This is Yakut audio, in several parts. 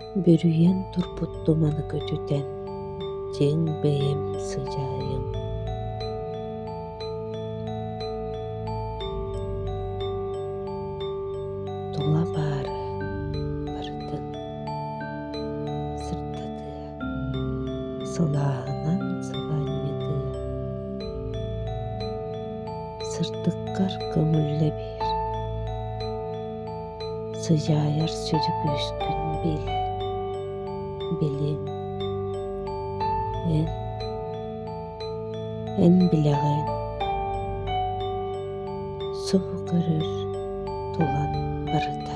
Бүрүйэн турбут туманы көтүтэн, дьиҥ бэйэм сыдьаайым Тула баары барытын сырдатыа Сылааһынан сылаанньытыа. Сырдыккар көҥүллэ биэр. Сыдьаайар сүдү күүскүн бил. Билин. Эн. Эн билэҕин. Субу көрөр тулан барыта.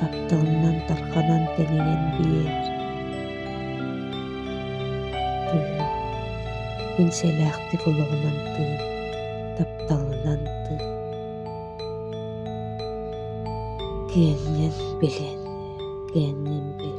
Тапталынан тарханан тэнийэн биэр Тыын мин сэлээхтик олоҕунан тыын тапталынан тыын Киэҥҥин билэн, киэҥҥин bil